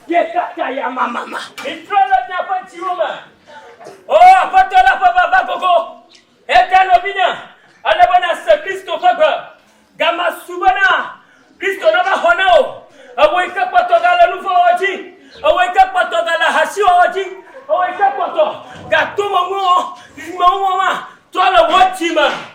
Míekaka yamamama. Mítrɔ le míaƒe dziwo me. O Aƒetɔ la ƒe vava gogo. Eya ta nɔvinye, ele be nàse Kristo ƒe gbe. Ga masu bena Kristo nava xɔ na wò. Ewòe ke kpɔtɔ gale nu vɔ̃ wɔwɔ dzi. Ewòe ke kpɔtɔ gale ahasi wɔwɔ dzi. Ewòe ke kpɔtɔ ga tomeŋuwɔwɔ, dzidzimeŋuwɔwɔa trɔ le wò dzi me.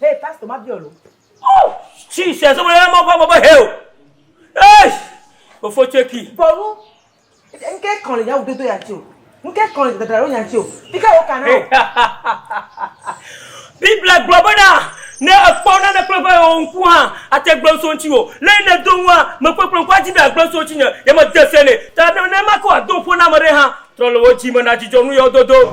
Hey pastor ma biɔ lo. Oh Jesus ɔmɔ yɛ mɔ fɔ mɔ bɔ heo. Hey ofo tseki. Bɔlu nke kɔn le yawu dodo ya tsi o. Nke kɔn le dadra ɖo nya tsi o. Pika wo kana o. Biblia gblɔ bena ne ekpɔ nane kple ƒe o ŋku hã ate gblɔ ŋso ŋtsi o. Le yi ne do ŋua me kpekple ŋku adzi be agblɔ ŋso ŋtsi nye ye me de se ne. Ta ne ne ma ke wa do ŋƒo na ame ɖe hã trɔ le wo dzi me na dzidzɔ nu yɔ dodo.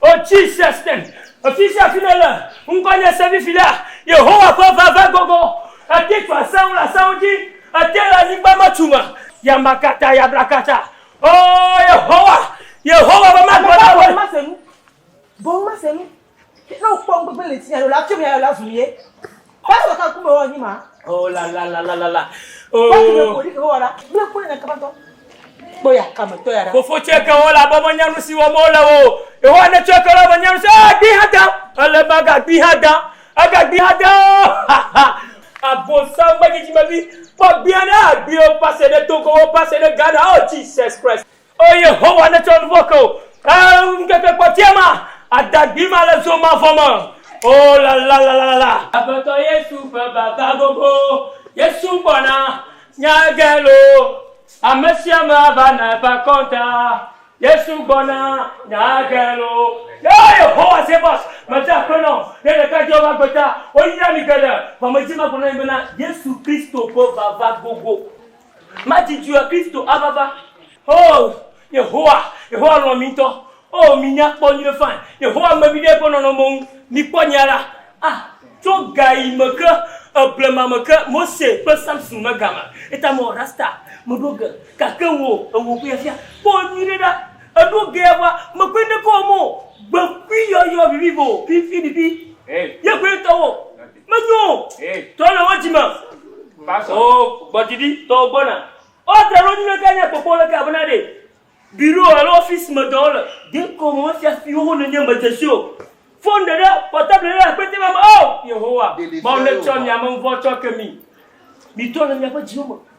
O Cicestin, afisia fi nèle, ŋkɔ nye Sevi Filia, Yehowa ƒe veve gogo, èti tu asẽŋu le asẽŋu dzi, èti le anyigba me tu me, yamakata yabrakata, O Yehowa, Yehowa ƒe magbe na wòe. Kɔla wɔ ka ŋkume wɔ nyi ma. Oh la la la la la la. Oh. Kɔla kele koli ke wɔ la. Bla kɔla na kaba tɔ. Kpɔ ya kame tɔ ya la. Fofo tse ke wɔ la bɔ me nyanu si wɔ mo le wo. Eho ane tse ke la me nyanu si. Ah, gbi ha da. Ele ma ga gbi ha da. Aga gbi ha da. Ha ha. Abo sa ma jiji ma bi. Kpɔ gbi ane agbi o pase de Togo o pase de Ghana. Oh Jesus Christ. O Yehowa, nètsɔ nu vɔ̃ ke wò. Ke ŋkeke kpɔtɔea ma, adagbi ma le zo mavɔ me. O lalalala. Aƒetɔ Yesu ƒe vava gogo. Yesu gbɔna, nya ge lo. Ame sia ame ava na eƒe akɔnta. Yesu gbɔna, nya ge lo. O Yehowa Zebɔs, mede akpe na wò. Ne ɖeka dze woƒe agbe ta, woyra mi geɖe. Vɔ medi magblɔ na mi bena, Yesu Kristo ƒe vava gogo. Madzidzuea Kristo ava va. Oo, Yehowa, Yehowa lɔ̃ mi ŋutɔ. Oo, mi nya kpɔ nyuiɖe fãi. Yehowa me mi ɖe eƒe nɔnɔme ŋu. Mi kpɔ nya ɖa. Ah, tso gaɣi me ke, e, blema me ke, Mose kple Samson me game. Eta me wɔ rasta, me ɖo ge. Gake wò, e wò ƒea fia. Kpɔ nyuiɖe ɖa. E ɖo gea ƒa, me koe ne kɔ wɔm o. Gbe kui yɔyɔ vivivo, fifi ɖiɖi. Ye koe tɔ wo. Menyo o. Trɔ le wo dzi me. O gbɔdidi tɔwo gbɔna. O tra ɖo nyuie ke nya kpɔkpɔ le ke abena ɖe biro alo office me dɔ wole. Dekɔ me wofia fi wo nenye me dzesi o. Phone ɖe ɖe portable ɖe akpete me me o Yehowa Mawu netsɔ mia me ŋvɔ tsɔ ke mi. Mi trɔ le miaƒe dziwo me.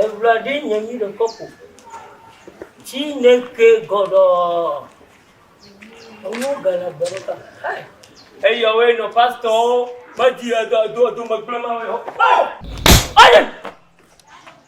Eŋla ɖe nye mi le kɔpo. Tsi ne ke gɔɖɔɔ. Enuwo ge le gbe ɖe ta. Hai. Eya woe nɔ pastɔwo medi edo edo edo megblẽ ma woe hɔ. Aye.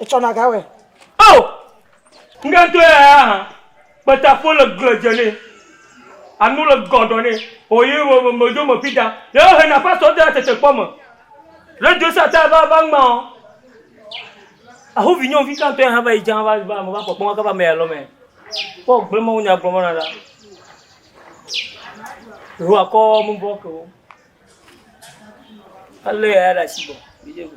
Etsɔna ga wɔe. Ao! Ŋɖe ŋutɔ ya ya hã. Kpeta ƒo le gble dze nɛ. Anu le gɔdɔ nɛ. O yi me me me dzo me ƒi ta. Ye wo hena pastor de atete kpɔ me. Re dzo sa ta va va ŋma o. Aho vi nyɔnu vi ka ŋutɔ ya hã va yi dza va va me va kpɔkpɔ ka va me ya lɔ me. Kpɔ gble ma wo nya gblɔ me na da. Ro akɔ mu bɔ ke wo. Ale ya ya da si bɔ. Bi je ko.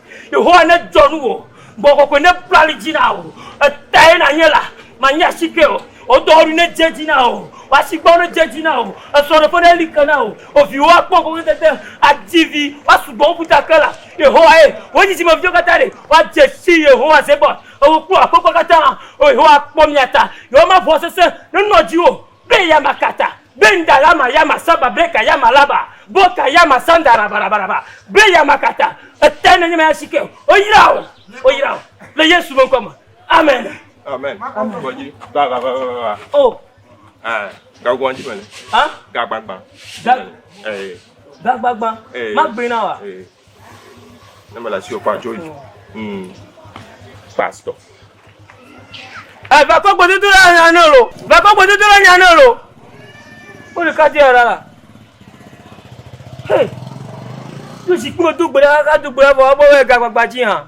Yehowa nedzɔ nuwò, Gbɔgbɔ kɔkɔe nebu ali dzi na wò, Etae nànye la, mànyi asike o. Wò dɔwɔɖui nedze edzi na wò, Wò asigbawo nedze edzi na wò, Esrɔ̃ɖeƒe neli ke na wò. Wò viwo akpɔ ŋgɔgbedede, Adi vi, woasu gbɔ wu ƒuta ke la. Yehowae, wò dzidzimeviwo katã ɖe, Woadze si Yehowa Zebot, Ewò kple wò aƒekɔa katã, O Yehowa, kpɔ mía ta, Yehowa maʋɔ sesẽ nenɔ dziwò o. Be ya ma kata, be nda la ma ya ma saba, be ka ya ma laba, bo ka ya ma sanda raba raba raba, be ya ma kata, eta ne nye ma ya si ke o yira o, o yira o, le Yesu me ŋkɔ me, amen. Amen. Amen. Gbɔ dzi. Va va va va va va. O. Ɛ. Gagbɔn dzi mele. Hã? Gagbagba. Ga. Ee. Gagbagba. Ee. Ma gbe na wa. Ee. Ne mele asi okpa tso dzi. Hmm. Pastor. Eh, va kɔ gbedodo la nya ne lo. Va kɔ gbedodo la nya ne lo. Wo le kati ara la. Hey. Tu si kpo do gbe la ka do gbe la vɔ abo we ga gbagba ji ha.